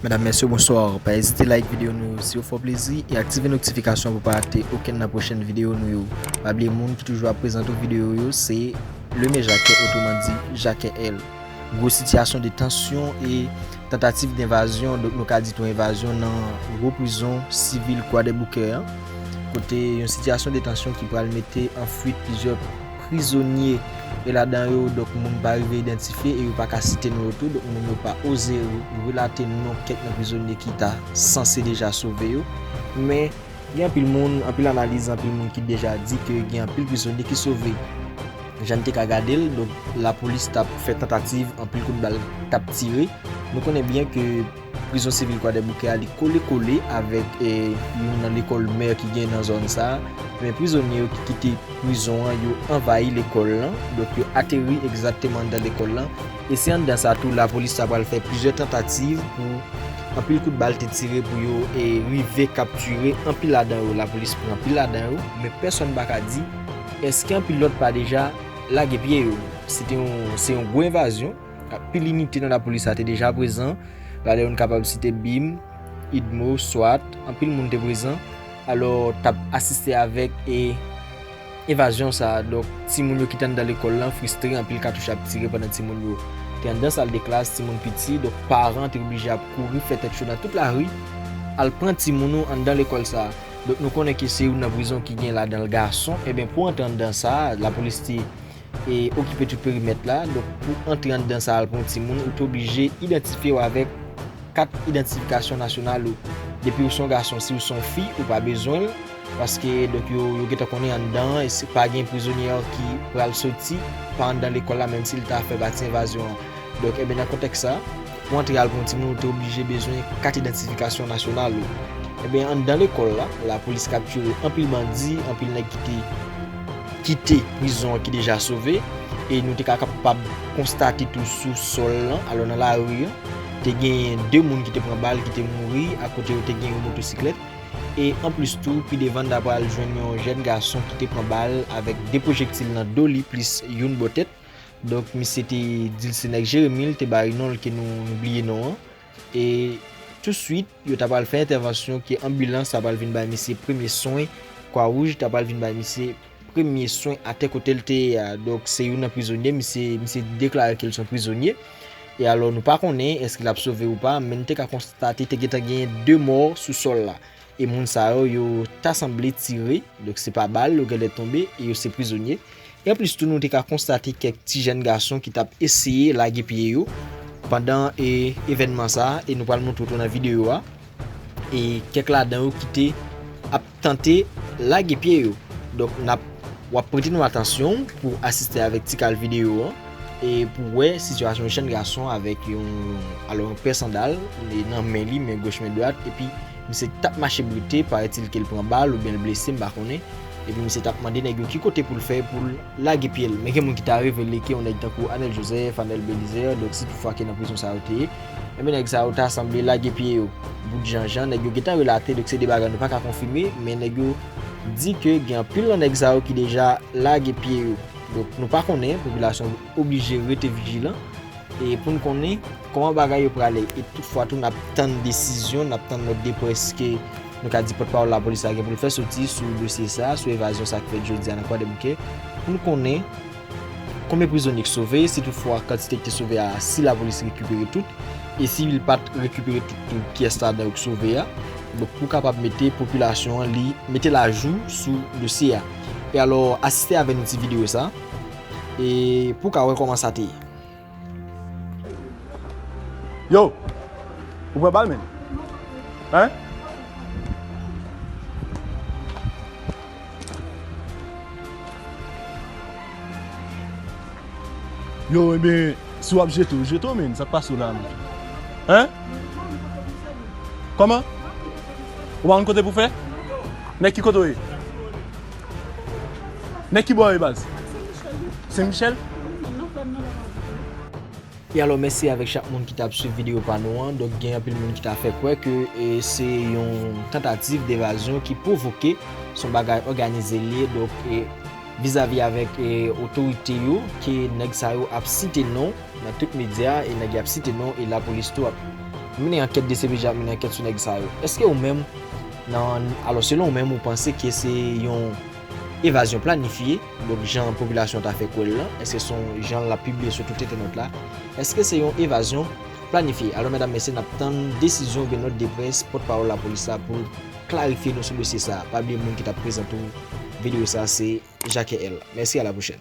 Medam mesye bonsoir pa ezite like video nou yo si yo fò plezi e aktive notifikasyon pou pa rate okenn nan pwochen video nou yo pa bliye moun ki toujou ap prezante w video yo se Leme Jacquet otouman di Jacquet L gwo sitiyasyon de tansyon e tantativ de envazyon nou ka di tou envazyon nan gwo prizon sivil kwadèboukè an kote yon sitiyasyon de tansyon ki pral mete an fuit plizyè prizonye e ladan yo donk moun pa rive idantifye e yo pa ka site non yo tou donk moun yo pa oze relate non kèk nan prizonye ki ta sanse deja sove yo men gen anpil moun anpil analiz anpil moun ki deja di ke gen anpil prizonye ki sove jan n te ka gade l donk lapolis t ap fè tantativ anpil kout bal t ap tire nou konnen byen ke Prizon sivil Kwadèboukè a li kole kole avèk youn nan lekòl mè ki gen nan zòn sa a. Ebyen prizonye yo ki kite prizon an yo anvayi lekòl lan, donk yo ateri egzakteman anndan lekòl lan. E se anndan sa tou lapolis ta pral fè plizyè tantativ pou anpil kout bal te tire pou yo rive kaptire anpil ladan yo. Lapolis pran anpil ladan yo men pèsòn pa ka di èske anpil lòt pa deja lage pye yo. Se te yon se yon gwo envazyon. Anpil inite nan lapolis la te deja prezan, lalè yon kapab site bim, idmo, swat, anpil moun te prezan, alò tap asiste avèk e evazyon sa a, donk ti moun yo ki te anndan lekòl lan fristre anpil katouch ap tire pandan ti moun yo te anndan sal de klas, ti moun piti, donk paran te oblije ap kouri fè tèt cho nan tout lari al pran ti moun ou anndan lekòl sa a, donk nou konnen ke se yon nan prizon ki gen ladanl gason, enben pou antre anndan sa a lapolis te. e okipe tout perimèt la, donk pou antre anndan sa al pou yon timoun ou te oblije idantifye w avèk kat idantifikasyon nasyonal ou, depi w se yon gason, si w se yon fi ou pa bezwen l, paske donk yo gentan konnen anndan an e pa gen prizonye an ki pral soti pa anndan lekòl la menm si l ta fè pati envazyon an, donk enben nan kontèks sa pou antre al pou yon timoun ou te oblije bezwen kat idantifikasyon nasyonal ou, enben anndan lekòl la lapolis kaptire anpil bandi, anpil nèg ki te. kite prizon an ki deja sove e nou te ka kapab konstate tou sou sòl lan, alò nan lari an, te genyen 2 moun ki te pran bal ki te mouri akote yo te gen yon motosiklèt e anplis tou pi devan n ta pral jwenn yon jèn gason ki te pran bal avèk 2 pwojektil nan do li plis youn bò tèt. Donk misye te di l se nèg Jeremi l te bay non l ke nou bliye non an. E tousuit, yo ta pral fè entèvansyon ke anbilans ta pral vin bay misye premye swen, Kwa Wouj ta pral vin bay misye premye swen atè kote l te ye a. Donk, se youn nan prizonye, misye, misye deklare ke l se yon prizonye. E alò, nou pa konnen èske l ap sove ou pa, men nou te ka konstate te gentan genyen 2 mò sou sòl la. E moun sa yo, yo ta sanble tire, donk se pa bal, yo genlè tonbe, e yo se prizonye. E anplis tou nou te ka konstate kèk ti jèn gason ki tap eseye lage pye yo pandan e evènman sa, e nou pral montre w tou nan videyo a, e kèk ladan yo ki te ap tante lage pye yo. Donk nap, wap prete nou atansyon w pou w asiste avèk ti kal videyo an, e pou w wè sitiyasyon yon jèn gason avèk yon, alò yon pè sandal, li nan men li, men goch men dwat, epi Misye tap mache brute, parait-il ke l pran bal oubyen l blese m pa konnen, epi misye tap mande nèg yo ki kote pou l fè pou l lage pye l. Men gen moun ki ta revele ke yon nèg tankou Anel Joseph, Anel Belizaire, donk si tout fwa ke nan prizon sa yo te ye, enben nèg sa yo ta sanble lage pye yo. Bout jan jan nèg yo gen tan relate, donk se de bagay nou pa ka konfime, men nèg yo di ke gen anpil nan nèg sa yo ki deja lage pye yo. Donk nou pa konnen, popilasyon. oblije rete vijilan e pou n konnen kòman bagay yo prale e tout fwa tou n ap tann desizyon, n ap tann lòt depreske nou ka di pòtpawòl lapolis la gen pou l fè soti sou dosye sa a, sou evazyon sa k fèt jodi a nan Kwadèboukè pou n konnen konbyen prizonye k sove si tout fwa kantite k te sove a si lapolis rekipere tout e si l pa t rekipere tout tou kiyès ladan yo k sove a donk pou kapab mete popilasyon an li mete l ajou sou dosye a e alò asiste avè nou ti videyo sa. E pou w ka wè kòman sa te ye. Yo! Ou pran bal menm? Hein? Yo enben, si wap jete w, jete w menm, sa k pase w la menm? Hein? Kòman? Ou pa konn kote pou fè? Nèg ki kote w ye? Nèg ki bò yo baz? Sen Michel? E alò mèsi avèk chak moun ki tap swiv video pa nou an, donk gen anpil moun ki ta fè kwè ke se yon tantativ devazyon ki pwovoke, son bagay òganize li ye donk vizavi avèk otorite yo ke nèg sa yo ap site non nan tout medya e nèg yap site non e lapolis tou ap mennen ankèt dcpj ap mennen ankèt sou nèg sa yo eske ou menm Nan, alò selon ou menm ou panse ke se yon evazyon planifye, donk jan popilasyon ta fè kwè'l lan, èske son jan lap pibliye sou tout entènèt la, èske se yon evazyon planifye? Alò medam mesye nap tann desizyon oubyen nòt de près pòt pawòl lapolis la pou klarifye nou sou dosye sa. Pa bliye moun ki tap prezante ou videyo sa se Jacques L. Mèsi a la pwochèn.